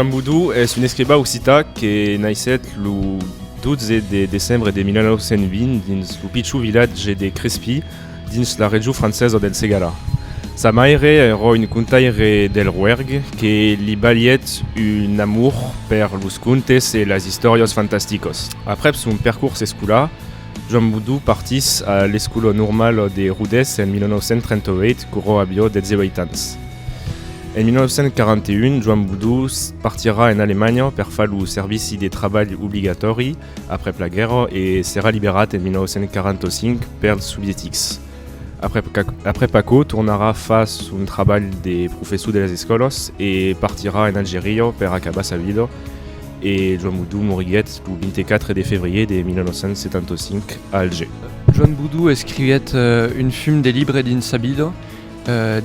Joan Boudou es un escriba occità que naissèt lo 12 de decembre de 1920 dins lo pichon vilatge de Crespí, dins la region francesa del Segarra. Sa maire èra un contaire del Roerg que li balhèt un amor per los contes e las istòrias fantasticas. Aprèp son percors escolar, Joan Boudou partís a l'Escola Normala de Rodés en 1938 quora aviá 18 ans. En 1941, Joan Boudou partirà en Alemanha per far lo servici de trabalh obligatòri Aprèp la guèrra e serà liberat en 1945 pels sovietics. Aprèp aquò tornarà far son trabalh de professor de las escòlas e partirà en Algeria per acabar sa vida e Joan Boudou moriguèt lo 24 de febrièr de 1975 a Alger. Joan Boudou escriguèt un fum de libre dins sa vida.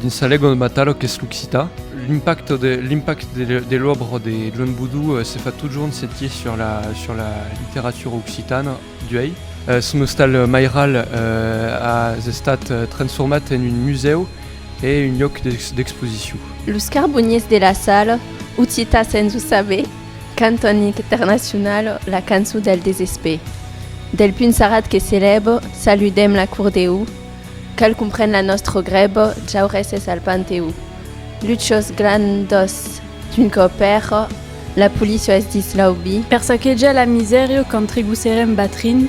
Dins sa lengua matala qu'es l'occitan, l'impact de l'òbra de Joan Boudou se fa totjorn sentir sur la literatura occitana d'uèi. Son ostal mairal a estat transformat en un musèu e un lhòc d'exposicion. Los carboniers de la sal, Occità sens o saber, cantan internacional la cançon del desespèr. Del punsarat que s'elèva, saludem la Cour Deu, Quel compren la nostro grebo Jaurèses al Panteó. Luchos glandos d'un copèro La policio es dins l'aubi. Per saquejar la misèrio Qu'entregusserem batrin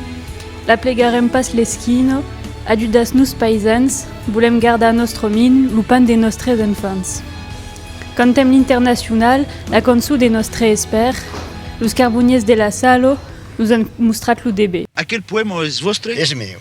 La plegarem pas l'esquino Ajudas-nos paisans Volem gardar nostro min Lo pan de nostres enfants. Cantem l'internacional La cançó de nostre espèr Los carboniers de la Salo Nos an mostrat lo deber. Aquel poèma es vòstre? Es meu.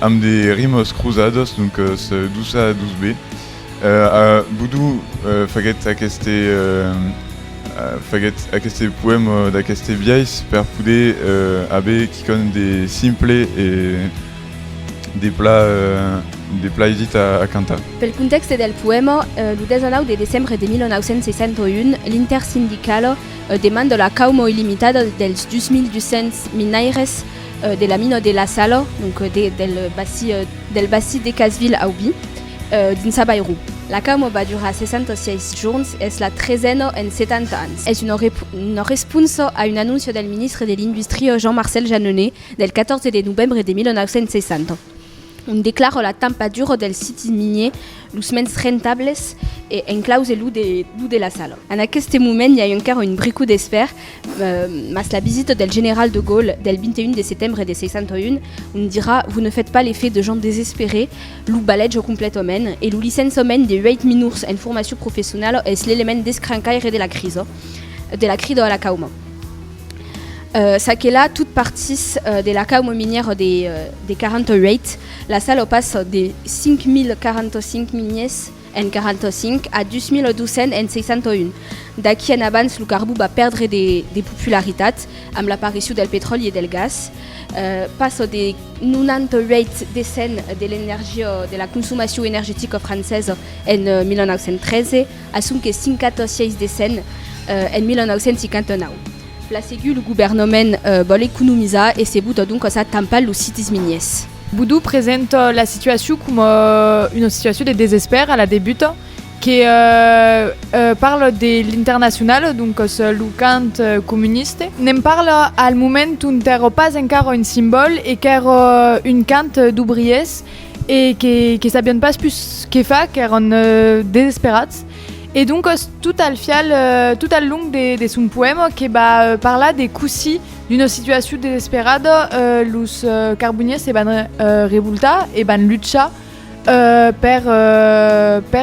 Amb de rimes crosadas, doncas dus a dus be. A Bodo faguèt aqueste faguèt aqueste poèma d'aqueste biais per poder aver quicòm de simple e de pla de pla aisit a cantar. Pel contèxte del poèma, lo 19 de decembre de 1961, l'intersindicala demanda la cauma illimitada dels 2.200 minaires de la mina de la Salo, donc de, del bassi, del bassi de Casville Aubi, dins Abairou. La camo va durar 66 jorns, es la tresena en 70 ans. Es una, una responsa a un anóncia del ministre de l'Industria Jean-Marcel Jeanneney del 14 de novembre de 1960. ont declara la tampa dura dels sits miniers los mens rentables e enclause lo de la Sala. En aqueste moment i a encara un brico d'esper, mas la visita del general de Gaulle del 21 de setembre de 61, ont dirà Vous ne faites pas l'effet de gens désespérés, lo baleja completament e lo licenciament de 8 minors en formacion professionala es l'element descrancaire de la crisa, de la crida a la cauma. Ça que la, tot partís de la cauma minièra de 48, la sala passa de 5.045 miniers en 45 a 2.200 en 61. D'aquí en abans lo carbó va pèrdre de popularitat amb l'aparicion del petròli e del gas. Passa de 98 de cent de l'energia de la consomacion energetica francesa en 1913, A sonque 56 de 100 en 1959. Plasegut, lo governament vòl economizar e se bota doncas a tampar los sites miniers. Boudou presenta la situacion coma una situacion de desespèr a la debuta que parla de l'Internacionale, doncas lo camp comuniste. Ne'n parla al moment ont èra pas encara un simbòl e qu'èra un camp d'obriers e que sabián pas pus que far, qu'èran desesperats, e doncas tot al fial, tot al long de son poèma que va parlar de cossí d'una situacion desesperada los carboniers se van revoltar e van luchar per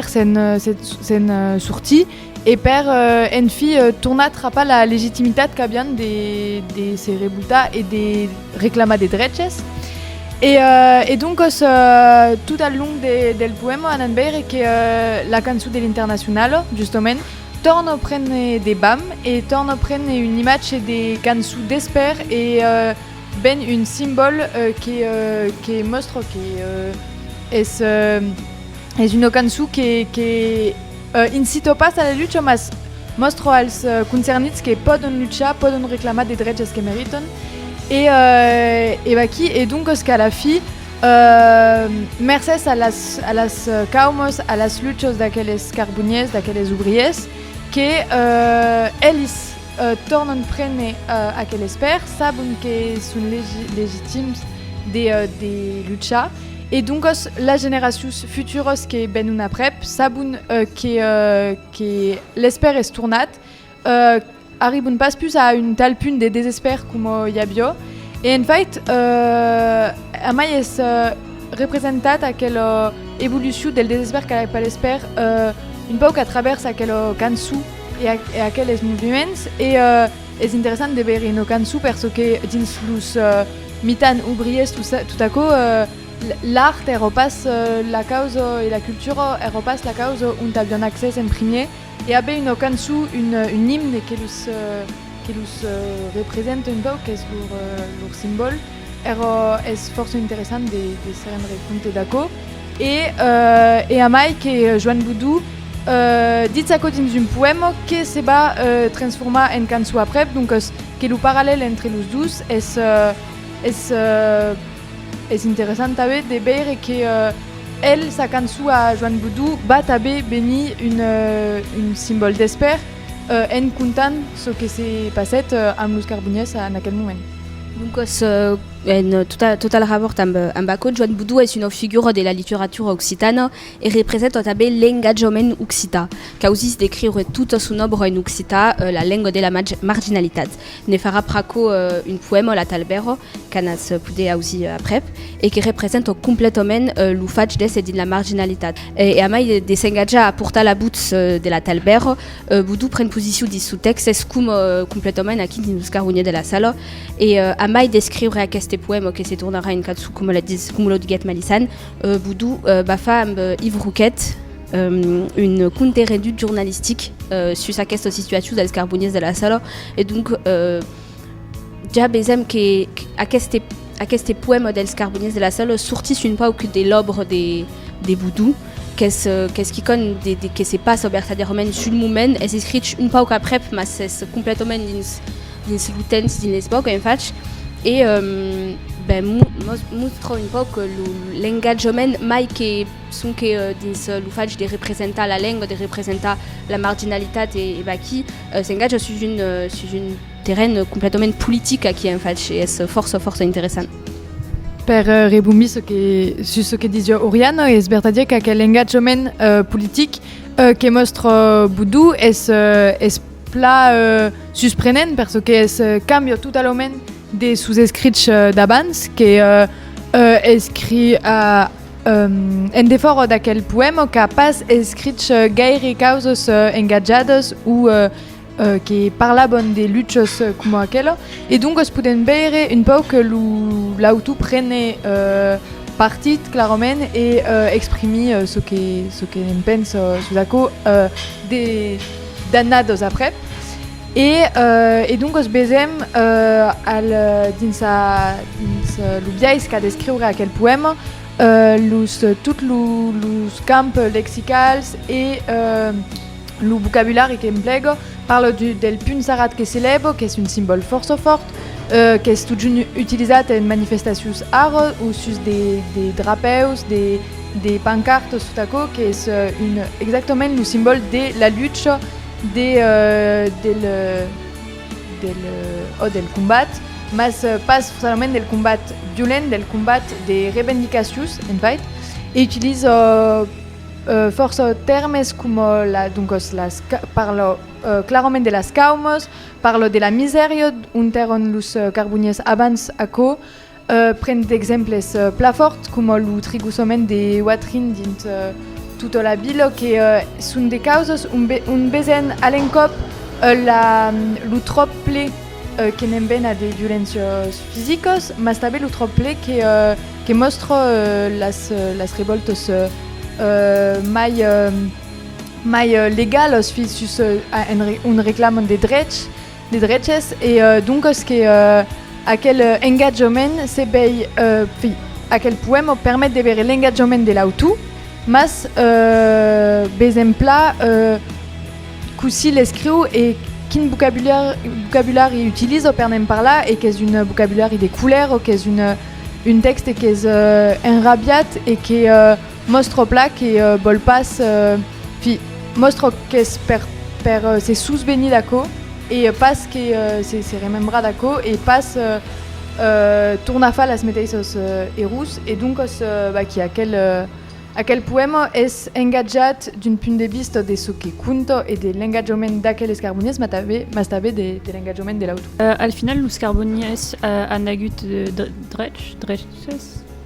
se'n sortir. E per, en fi, tornar trapar la legitimitat qu'avián de se revoltar e de reclamar de dreches. E doncas, tot al long del poèma anam veire que la cançon de l'Internacionalo, justament, torna prene de bam e torna prene un imatge de cançon d'espèr e ben un simbòl que mòstra que es una cançon que Incito pas a la lucha, mas mòstro als concernits que pòdon luchar, pòdon reclamar de dreches que meritan, e e vaquí. E doncas qu'a la fi, mercés a las a las caumos, a las luchas d'aqueles carboniers, d'aqueles obriers, que elis, Tornan prene aquel espèr, sabon que son legitims de luchar e doncas las generacions futuras que venon aprèp sabon que l'espèr es tornat, arribon pas pus a un tal punt de desespèr coma i aviá e en fait amai es representat aquela evolucion del desespèr cap a l'espèr un pauc a travèrs aquela cançon. e aqueles movements e es interessant de veire una cançon per çò que dins los mitans obriers tot aquò l'art èra pas la causa e la cultura èra pas la causa ont avián accès en primièr e aver una cançon un imne que los representa un pauc qu'es lor simbòl Era es fòrça interessant de se rendre compte d'aquò. E, e a mai que Joan Boudou ditz aquò dins un poèma que se va transformar en cançó aprèp, doncas que lo parallèl entre los dos es, es, es interessant tanben de veire que el, sa cançó a Joan Boudou va tanben venir un, un simbòl d'espèr en contant çò que se passèt amb los Carbonièrs en aquel moment. Doncas, en tota la rabòrta amb aquò, Joan Boudou es una figura de la literatura occitana e representa tanben l'engatjament occitan. Causís de creure tota son òbra en occitan, la lenga de la marginalitat. Ne farà pr'aquò un poèma, La Talbèra, qu'anas poder ausir aprèp e que representa completament lo fach d'èsser dins la marginalitat. E a mai de s'engatjar a portar la votz de La Talbèra, Boudou pren posicion dins son tèxt, es coma completament aquí dins los carronhiers de la sala, e a mai d'escriure aqueste poèma que se tornarà en cançon coma lo diguèt Malisan, Boudou va far amb Yves Roquet un conte-rendut jornalistic sus aquesta situacion dels carboniers de la sala e donc Ja besem que aqueste, aqueste poèma dels Carboniers de la Salle sortís un pauc de l'òbra de, de Boudou, qu'es, qu'es quicòm de, de, que se passa vertadièrament sul moment, es escrich un pauc aprèp, mas es completament dins, dins lo temps, dins l'espòca en fach, e ben, mos mostra un pauc lo, l'engatjament mai que sonque dins lo fach de representar la lenga, de representar la marginalitat e, e vaquí, S'engatja sus un sus un terren completament politic aquí en fach e es fòrça fòrça interessant. Per rebonbir çò que sus çò que disiá Oriana, es vertadièr qu'aquel engatjament politic que mòstra Boudou es es pla susprenent per çò qu'es cambia totalament de sos escrichs d'abans que escriu a En defòra d'aquel poèma qu'a pas escrich gaire causas engatjadas o que parlavan de luchas coma aquela, e doncas podèm veire un pauc que l'autor prene partit clarament e exprimí çò que çò que ne'n pensa sus aquò d'annadas après. E, e doncas besèm al, dins a, dins lo biais qu'a d'escriure aquel poèma, los, tot lo, los camps lexicals e lo vocabulari qu'emplega. Parla du, del punh sarrat que s'elèva, qu'es un simbòl fòrça fòrt, qu'es totjorn utilizat en manifestacions ara, o sus de, de drapèus, de, de pancartas, tot aquò qu'es un, exactament lo simbòl de la lucha, De del del ò del combat mas pas solament del combat violent del combat de revendicacius en fait e utilizo fòrça tèrmes coma la doncas las parlo clarament de las caumos parlo de la misèria ont èron los carboniers abans aquò Pren d'exemples pla fòrt coma lo trigusament de Watrin dins tota la vila que son de causas ont vesen a l'encòp lo tròp ple que n'embena de violéncias fisicas mas tanben lo tròp ple que mòstra las revòltas mai legalas fins sus ont reclaman de drechs. de dreches e doncas que aquel engatjament se vei fi aquel poèma permet de veire l'engatjament de l'autor mas besemplà cossí l'escriu e quin vocabulari utiliza per ne'n parlar e qu'es un vocabulari de colèra o qu'es un tèxte qu'es enrabiat e que Mòstro plan que vòl pas fi, mòstro qu'es per per se susvenir d'aquò e pas que se remembrar d'aquò e pas tornar far las meteissas errors e doncas vaquí aquel aquel poèma es engatjat d'un punt de vista de çò que conta e de l'engatjament d'aquel escarbonièrs mas tanben mas tanben de de l'engatjament de l'autor. Al final los carbonièrs an agut drechs, dreches?